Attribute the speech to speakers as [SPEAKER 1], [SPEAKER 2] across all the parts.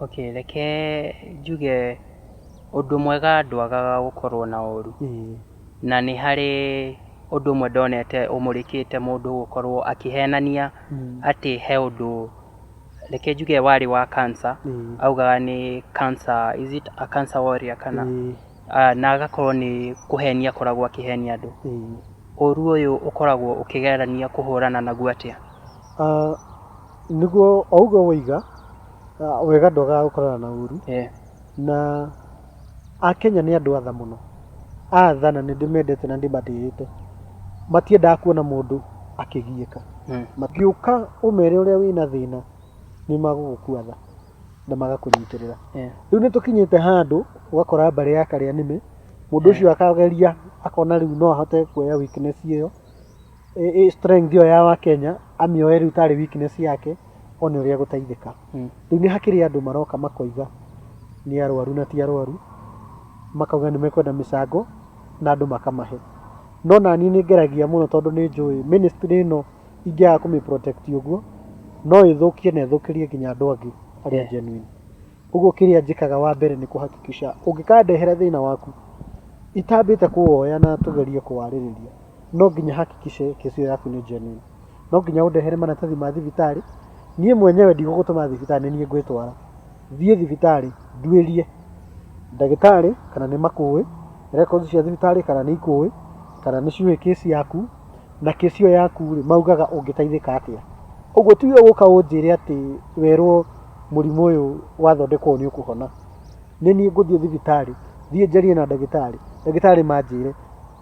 [SPEAKER 1] okay reke njuge ũndũ mwega ndwagaga gũkorwo na ũru na nĩ harĩ ũndũ ũmwe ndonete ũmũrĩkĩte mũndũ gũkorwo akĩhenania atĩ he ũndũ reke njuge warĩ wa cancer augaga nĩ cancer, is it a cancer warrior kana ah, na agakorwo nĩ kũhenia akoragwo akĩhenia andũ. Ĩĩ. Ũũru ũyũ ũkoragwo ũkĩgerania kũhũrana naguo atĩa? Ah, nĩguo
[SPEAKER 2] o ũguo woiga ah, wega ndwagaga gũkorana na ũru Eh, na akenya nĩ andũ atha mũno atha na nĩndĩmendete na ndĩmatĩĩte matiendaga kuona mũndũ akĩgiĩka mm, matiũka ũmere ũrĩa wĩna thĩna nĩ magũgũkua tha na magakũnyitĩrĩra Eh. rĩu nĩ tũkinyĩte handũ ũgakora mbarĩ ya karĩa nĩme mũndũ Eh. ũcio akageria akona rĩu no ahote kuoya weakness ĩyo ĩ- ĩ strength ĩyo ya wakenya amĩoe rĩu tarĩ weakness yake one ũrĩa gũteithĩka Mm. rĩu nĩ hakĩrĩ andũ maroka makoiga nĩ arwaru na ti arwaru makauga nĩ mekwenda mĩcango na andũ makamahe no naniĩ nĩ ngeragia mũno tondũ nĩ njũĩ ministry ĩno ingĩaga kũmĩ protect ũguo no ĩthũkie na ĩthũkĩrie nginya andũ angĩ arĩa Yeah. genuine ũguo kĩrĩa njĩkaga wa mbere nĩ kũhakikisha ũngĩkandehera thĩna waku itambĩte kũwoya na tũgerie kũwarĩrĩria no nginya hakikishe kesi ĩyo yaku nĩ genuine no nginya ũndehere maratathi ma thibitarĩ niĩ mwenyewe ndigũgũtũma thibitarĩ nĩ niĩ ngwĩtwara thiĩ thibitarĩ nduĩrie ndagĩtarĩ kana nĩ makũĩ records cia thibitarĩ kana nĩ ikũĩ kana nĩ ciũĩ kesi yaku na kesi ĩyo yaku rĩ maugaga ũngĩteithĩka atĩa ũguo ti we gũka ũnjĩre atĩ werwo mũrimũ ũyũ wathondekwo nĩ ũkũhona nĩ niĩ ngũthiĩ thibitarĩ thiĩ njarie na ndagĩtarĩ ndagĩtarĩ manjĩre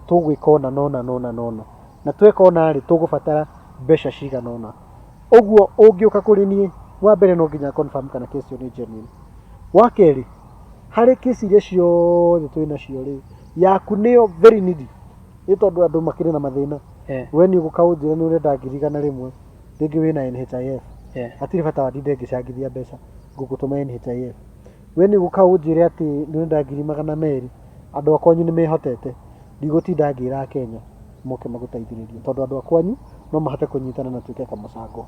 [SPEAKER 2] tũgwĩka ona nona nona nona na tweka ona rĩ tũgũbatara mbeca cigana ũna ũguo ũngĩũka kũrĩ niĩ wa mbere no nginya confirm kana kesi ĩyo nĩ genuine wa kerĩ harĩ kesi iria ciothe twĩ nacio rĩ yaku nĩyo very needy nĩ tondũ andũ makĩrĩ na mathĩna Eh. we nĩ ũgũka ũnjĩre nĩ ũrenda ngiri igana rĩmwe rĩngĩ wĩ na NHIF Eh. hatirĩ bata wa ndinde ngĩcangithia mbeca ngũgũtũma NHIF we nĩ ũgũka ũnjĩre atĩ nĩ ũrenda ngiri magana merĩ andũ a kwanyu nĩ mehotete ndigũtinda ngĩra Akenya moke magũteithĩrĩrie tondũ andũ a kwanyu no mahote kũnyitana na tuĩke kamũcango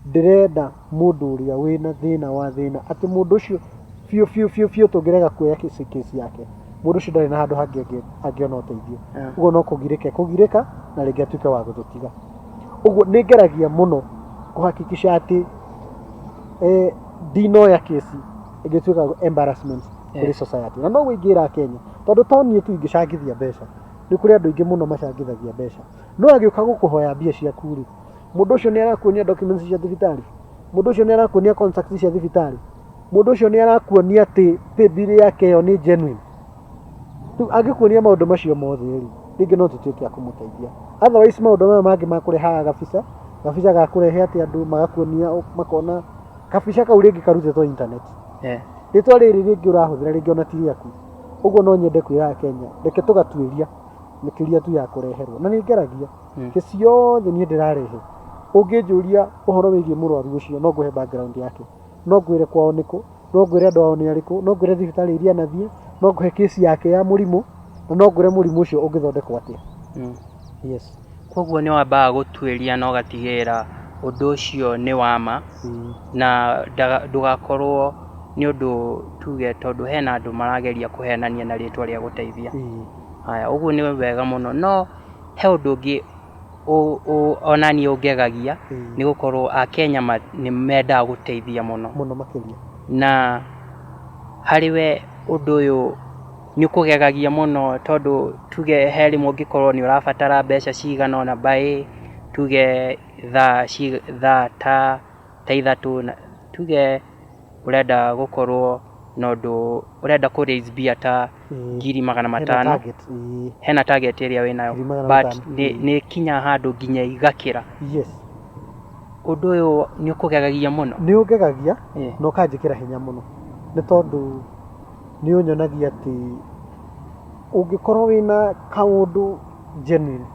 [SPEAKER 2] ndĩrenda mũndũ ũrĩa wĩna thĩna wa thĩna, atĩ mũndũ ũcio biũ biũ biũ biũ tũngĩrega kuoya case yake, mũndũ ũcio ndarĩ na handũ hangĩ angĩ- angĩona ũteithio Yeah. ũguo no kũgirĩka ekũgirĩka na rĩngĩ atuĩke wa gũtũtiga ũguo nĩ ngeragia mũno kũhakikisha atĩ eh, ndinoya kesi ĩngĩtuĩka embarrassment kũrĩ Yeah. society na noguo ingĩra Kenya tondũ to niĩ tu ingĩcangithia mbeca nĩ kũrĩ andũ aingĩ mũno macangithagia mbeca no agĩũka gũkũhoya mbia ciaku rĩ mũndũ ũcio nĩ arakuonia documents cia thibitarĩ mũndũ ũcio nĩ arakuonia contract cia thibitarĩ mũndũ ũcio nĩ arakuonia atĩ pay bill yake ĩyo nĩ genuine rĩu angĩkuonia maũndũ macio mothe rĩ rĩngĩ no tũtuĩke a kũmũteithia otherwise maũndũ maya mangĩ ma kũrehaga gabica gabica ga kũrehe atĩ andũ magakuonia ũ- makona kabica kau rĩngĩ karutĩtwo internet Eh. rĩtwa rĩrĩ rĩngĩ ũrahũthĩra rĩngĩ ona ti rĩaku ũguo no nyende kwĩra akenya reke tũgatuĩria makĩria tu ya kũreherwo na nĩ ngeragia ingĩ ciothe niĩ ndĩrarehe ũngĩnjũria ũhoro wĩgiĩ mũrwaru ũcio no ngũhe background yake no ngwĩre kwao nĩkũ no ngwĩre andũ ao nĩ arĩkũ no ngwĩre thibitarĩ iria anathiĩ no ngũhe kĩsi yake ya mũrimũ na no ngwĩre mũrimũ ũcio ũngĩthondekwo atĩa yes koguo nĩ
[SPEAKER 1] wambaga gũtuĩria na ũgatigĩrĩra ũndũ ũcio nĩ wama Mm. na ndaga- ndũgakorwo nĩ ũndũ tuge tondũ hena andũ marageria kũhenania na rĩtwa rĩa gũteithia Ĩĩ. haya ũguo nĩ wega mũno no He ũndũ ũngĩ ũ- ũ- onaniĩ ũngegagia Mm. nĩ gũkorwo akenya ma- nĩ mendaga gũteithia mũno mũno makĩria
[SPEAKER 2] na
[SPEAKER 1] harĩ we ũndũ ũyũ nĩ ũkũgegagia mũno tondũ tuge he rĩmwe ũngĩkorwo nĩ ũrabatara mbeca cigana ona baĩ tuge thaa ci- thaa ta ta ithatũ, na tuge ũrenda gũkorwo na ũndũ ũrenda kũ raise mbia ta Ĩĩ. ngiri magana Hena matano target, ĩĩ. hena target ĩrĩa wĩ nayo Ngiri magana but matano. nĩ- Mm. nĩ kinya handũ nginya igakĩra Yes. ũndũ ũyũ nĩ ũkũgegagia mũno nĩ ũngegagia
[SPEAKER 2] Ĩĩ. na ũkanjĩkĩra hinya mũno nĩ tondũ nĩ ũnyonagia atĩ ũngĩkorwo wĩna kaũndũ genuine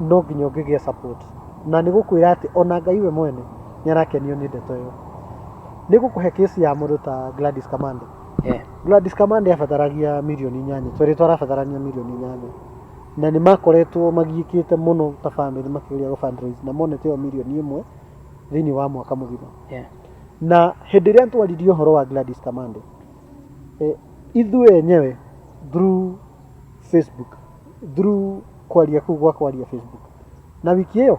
[SPEAKER 2] no nginya ũngĩgĩa support. Na nĩ gũkwĩra atĩ ona Ngai we mwene nĩ arakenio nĩ ndeto ĩyo. Nĩ ngũkũhe case ya mũndũ ta Gladys Kamande. Eh. Gladys Kamande abataragia mirioni inyanya, twerĩ twarabatarania mirioni inyanya. Na nĩ makoretwo magiĩkĩte mũno ta family makĩgeria gũ fundraise na monete ĩyo mirioni ĩmwe thĩinĩ wa mwaka mũgima. Eh. Na hĩndĩ ĩrĩa twaririe ũhoro wa Gladys Kamande, eh, ithuĩ enyewe through Facebook through kwaria kuu gwa kwaria Facebook na wiki ĩyo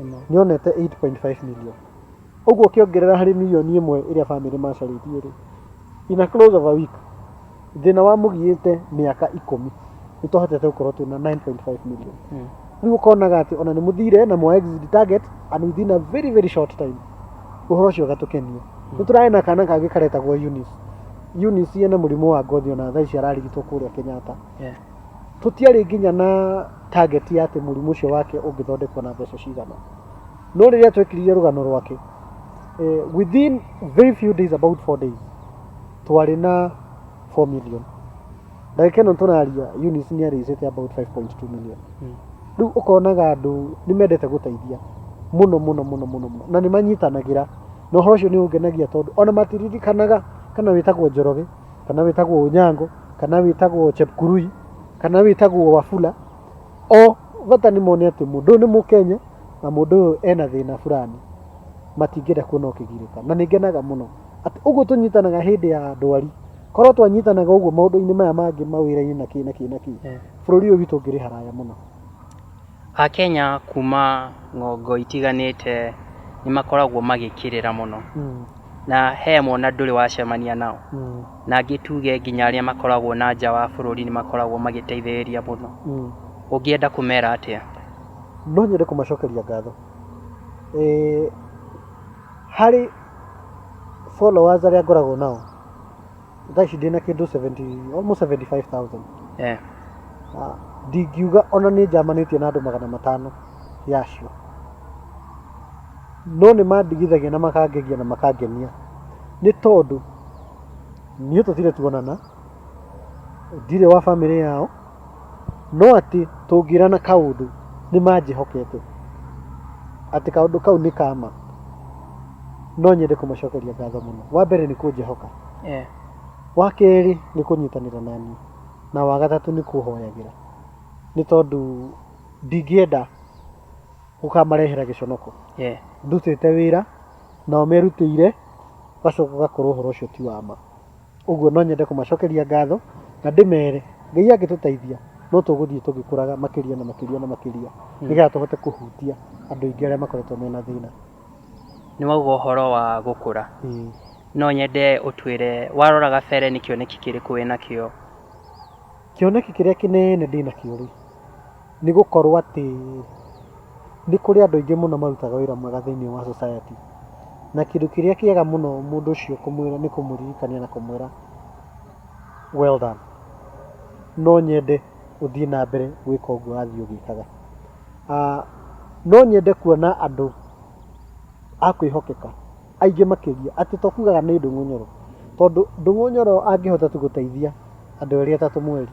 [SPEAKER 2] Ĩno. nĩ onete 8.5 million ũguo ũkĩongerera harĩ milioni ĩmwe ĩrĩa bamĩrĩ macarĩtie rĩ in a close of a week thĩna wa mũgiĩte mĩaka ikũmi nĩ twahotete gũkorwo twĩ na 9.5 million Mm. rĩu ũkonaga atĩ ona nĩ mũthire na mwa exit target and within a very very short time ũhoro ũcio ũgatũkenia nĩ tũrae na kana kangĩ karetagwo Eunice Eunice ena mũrimũ wa ngothi ona thaa ici ararigitwo kũrĩa Kenyatta tũtiarĩ nginya na target ya atĩ mũrimũ ũcio wake ũngĩthondekwo na mbeca cigana no rĩrĩa twekiririe rũgano rwake eh, within very few days about four days twarĩ na 4 million ndagĩka ĩno tũraria Eunice nĩ arĩcĩte about 5.2 million Mm. rĩu ũkonaga andũ nĩ mendete gũteithia mũno mũno mũno mũno mũno na nĩ manyitanagĩra na ũhoro ũcio nĩ ũngenagia tondũ ona matiririkanaga kana wĩtagwo njoroge kana wĩtagwo ũnyango kana wĩtagwo chepkurui kana wĩtagwo wafula o bata nĩ mone atĩ mũndũ ũyũ nĩ mũkenya na mũndũ ũyũ ena thĩna fulani matingĩenda kuona ũkĩgirĩka na nĩ ngenaga mũno Atĩ ũguo tũnyitanaga hĩndĩ ya ndwari. Korwo twanyitanaga ũguo maũndũ-inĩ maya mangĩ mawĩra-inĩ na kĩ na kĩ na kĩ, bũrũri ũyũ witũ ũngĩrĩ haraya mũno. Akenya
[SPEAKER 1] kuma ng'ongo itiganĩte nĩ makoragwo magĩkĩrĩra mũno. Na he amwe ona ndũrĩ wacemania nao. Na angĩ tuge nginya arĩa makoragwo na nja wa bũrũri nĩ makoragwo magĩteithĩrĩria mũno. Ũngĩenda kũmera atĩa? No nyende
[SPEAKER 2] kũmacokeria ngatho. Harĩ... followers arĩa ngoragwo nao thaa ici ndĩ na kĩndũ 70 almost 75000 eh, Ah, ndingiuga ona nĩ njamanĩtie na andũ magana matano yacio no nĩ mandigithagia na makangegia na makangenia nĩ tondũ niĩ tũtirĩ tuonana ndirĩ wa bamĩrĩ yao No atĩ tũngĩra na kaũndũ nĩ manjĩhokete, atĩ kaũndũ kau nĩ ka ma, no nyende kũmacokeria ngatho mũno. Wa mbere nĩ kũnjĩhoka, Eh, wa kerĩ nĩ kũnyitanĩra na niĩ, na wa gatatũ nĩ kũhoyagĩra, nĩ tondũ ndingĩenda gũkamarehera gĩconoko eh, ndutĩte wĩra nao merutĩire gacoka gakorwo ũhoro ũcio ti wa ma. Ũguo no nyende kũmacokeria ngatho na ndĩmere Ngai angĩtũteithia no tũgũthiĩ tũgĩkũraga makĩria na makĩria na makĩria hmm. nĩgetha tũhote kũhutia andũ aingĩ arĩa makoretwo mena thĩna. Nĩ wauga
[SPEAKER 1] ũhoro wa gũkũra. Hmm. No nyende ũtwĩre warora gabere nĩ kĩoneki kĩrĩkũ wĩnakĩo?
[SPEAKER 2] Kĩoneki kĩrĩa kĩnene ndĩnakĩo rĩ, Nĩ gũkorwo atĩ nĩ kũrĩ andũ aingĩ mũno marutaga wĩra mwega thĩinĩ wa society. Na kĩndũ kĩrĩa kĩega mũno mũndũ ũcio kũmwĩra nĩ kũmũririkania na kũmwĩra well done. No nyende ũthiĩ na mbere gwĩka ũguo ũrathiĩ ũgĩkaga. No nyende kuona andũ a kwĩhokeka aingĩ makĩria, atĩ to kugaga nĩ Ndung'u Nyoro, tondũ Ndung'u Nyoro angĩhota tu gũteithia andũ erĩ atatũ mweri.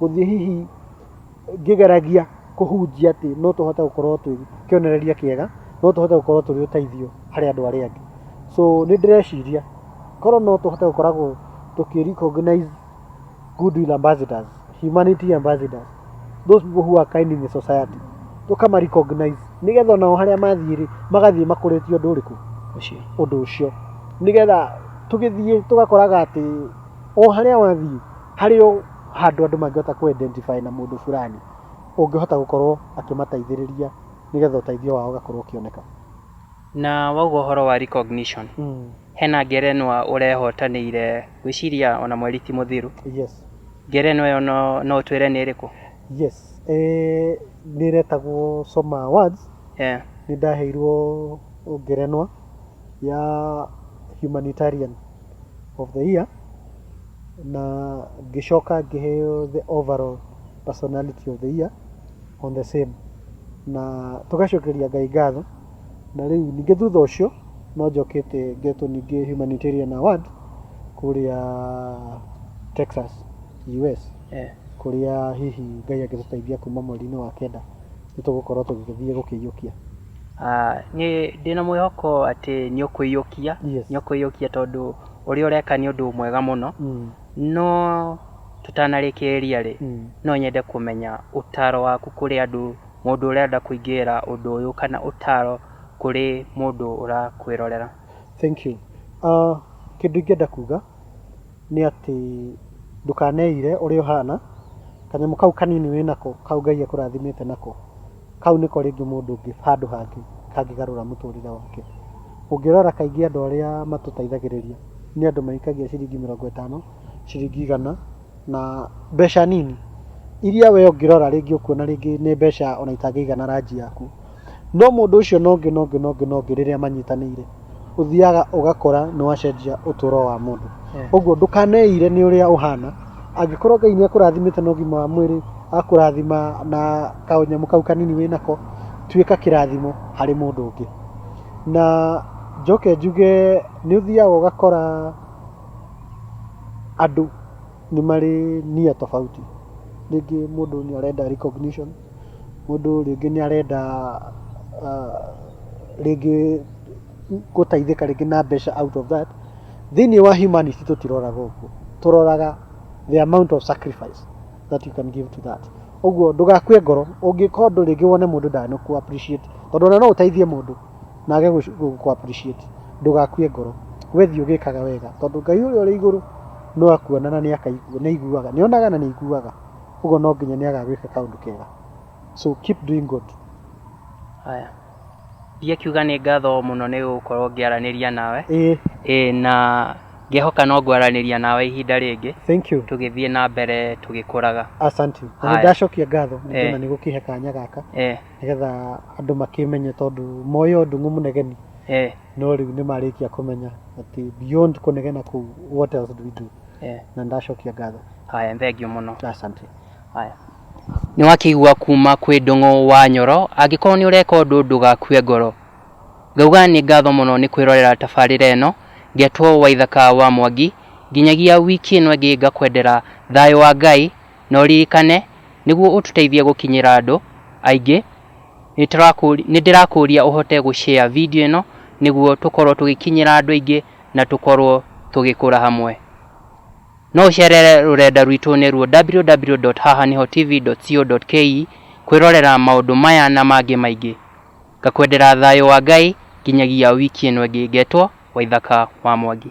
[SPEAKER 2] gũthiĩ hihi ngĩgeragia kũhunjia atĩ no tũhote gũkorwo twĩ kĩonereria kĩega no tũhote gũkorwo tũrĩ ũteithio harĩ andũ arĩa angĩ so nĩ ndĩreciria korwo no tũhote gũkoragwo tũkĩ recognize goodwill ambassadors humanity ambassadors those people who are kind in the society tũkama recognize nĩgetha onao harĩa mathiĩ rĩ magathiĩ makũrĩtie ũndũ ũrĩkũ ũcio ũndũ ũcio nĩgetha tũgĩthiĩ tũgakoraga atĩ o harĩa wathiĩ Harĩ o handũ andũ mangĩhota kũ identify na mũndũ fulani, ũngĩhota gũkorwo akĩmateithĩrĩria nĩgetha ũteithio wao ũgakorwo ũkĩoneka. Na
[SPEAKER 1] wauga ũhoro wa recognition, hena ngerenwa ũrehotanĩire, ngwĩciria ona mweri ti mũthiru. Yes.
[SPEAKER 2] Ngerenwa ĩyo no
[SPEAKER 1] no ũtwĩre nĩ ĩrĩkũ? Yes.
[SPEAKER 2] Nĩ ĩretagwo Soma Awards. Nĩ ndaheirwo ngerenwa ya Humanitarian of the Year na ngĩcoka ngĩheo the overall personality of the year on the same na tũgacokeria ngai ngatho na rĩu ningĩ thutha ũcio no njokete ngetwo ningĩ humanitarian award kũrĩa texas us Eh. kũrĩa hihi ngai angĩtũteithia kuma mweri-inĩ wa kenda nĩ tũgũkorwo tũgĩthiĩ gũkĩiyũkia. Nĩ
[SPEAKER 1] ndĩ na mwĩhoko atĩ nĩ ũkũiyũkia, Yes. nĩ ũkũiyũkia tondũ ũrĩa ũreka nĩ ũndũ mwega mũno. Mm. No tũtanarĩkĩrĩria rĩ, Mm. no nyende kũmenya ũtaro waku kũrĩ andũ, mũndũ ũrenda kũingĩrĩra ũndũ ũyũ kana ũtaro kũrĩ mũndũ ũrakwĩrorera. Thank you.
[SPEAKER 2] Ah, kĩndũ ingĩenda kuga nĩ atĩ ndũkaneire ũrĩa ũhana, kanyamũ kau kanini wĩnako, kau Ngai akũrathimĩte nako, kau nĩko rĩngĩ mũndũ ũngĩ handũ hangĩ kangĩgarũra mũtũrĩre wake. Ũngĩrora kaingĩ andũ arĩa matũteithagĩrĩria nĩ andũ maikagia ciringi mĩrongo ĩtano, ciringi igana na mbeca nini, iria we ũngĩrora rĩngĩ ũkuona rĩngĩ nĩ mbeca ona itangĩigana ranji yaku. No mũndũ ũcio na ũngĩ na ũngĩ na ũngĩ na ũngĩ rĩrĩa manyitanĩire, ũthiaga ũgakora nĩ wacenjia ũtũũro wa mũndũ. Ũguo ndũkaneire nĩ ũrĩa ũhana, angĩkorwo Ngai nĩ akũrathimĩte na ũgima wa mwĩrĩ, akũrathima na kanyamũ kau kanini wĩ nako, tuĩka kĩrathimo harĩ mũndũ ũngĩ. Na njoke njuge nĩ ũthiaga ũgakora andũ... nĩ marĩ nia tofauti. Rĩngĩ mũndũ nĩ arenda recognition, mũndũ rĩngĩ nĩ arenda rĩngĩ gũteithĩka rĩngĩ na mbeca out of that. Thĩinĩ wa humanity tũtiroraga ũguo, tũroraga the amount of sacrifice that you can give to that. Ũguo ndũgakue ngoro ũngĩka ũndũ rĩngĩ wone mũndũ ndanakũ appreciate tondũ ona no ũteithie mũndũ. nage gũkũ appreciate ndũgakue ngoro we thiĩ ũgĩkaga wega tondũ Ngai ũrĩa ũrĩ igũrũ no akuona na nĩ akaigua nĩ aiguaga nĩ onaga na nĩ aiguaga ũguo no nginya nĩ agagwĩka kaũndũ kega so keep doing good Haya.
[SPEAKER 1] Thiĩ akiuga nĩ ngatho mũno nĩ gũkorwo ngĩaranĩria nawe. ĩĩ Ĩĩ na ngehoka no ngwaranĩria nawe ihinda rĩngĩ thank you tũgĩthiĩ
[SPEAKER 2] na mbere
[SPEAKER 1] tũgĩkũraga. asante na Haya. nĩ
[SPEAKER 2] ndacokia ngatho nĩ Ĩĩ. ndona nĩ gũkĩhe kanya gaka Ĩĩ. nĩgetha andũ makĩmenye tondũ moĩ o ndung'u mũnegeni eh, no rĩu nĩ marĩkia kũmenya atĩ beyond kũnegena kũu what else do we do eh. na ndacokia ngatho haya thengiũ mũno
[SPEAKER 1] asante haya nĩ wakĩigua kuma kwĩ ndũng'ũ wa nyoro angĩkorwo nĩ ũreka ũndũ ndũgakue ngoro ngauga nĩ ngatho mũno nĩ kwĩrorera tabarĩra ĩno ngetwo waithaka wa mwangi nginyagia wiki ĩno ĩngĩ ngakwendera thayũ wa ngai na ũririkane nĩguo ũtũteithie gũkinyĩra andũ aingĩ nĩ ndĩrakũria ũhote gũ share video ĩno nĩguo tũkorwo tũgĩkinyĩra andũ aingĩ na tũkorwo tũgĩkũra hamwe. No ũcerere rũrenda rwitũ nĩ ruo www.hahanihotv.co.ke kwĩrorera maũndũ maya na mangĩ maingĩ. Ngakwendera thayũ wa Ngai nginyagia wiki ĩno ĩngĩ ngetwo Waithaka wa Mwangi.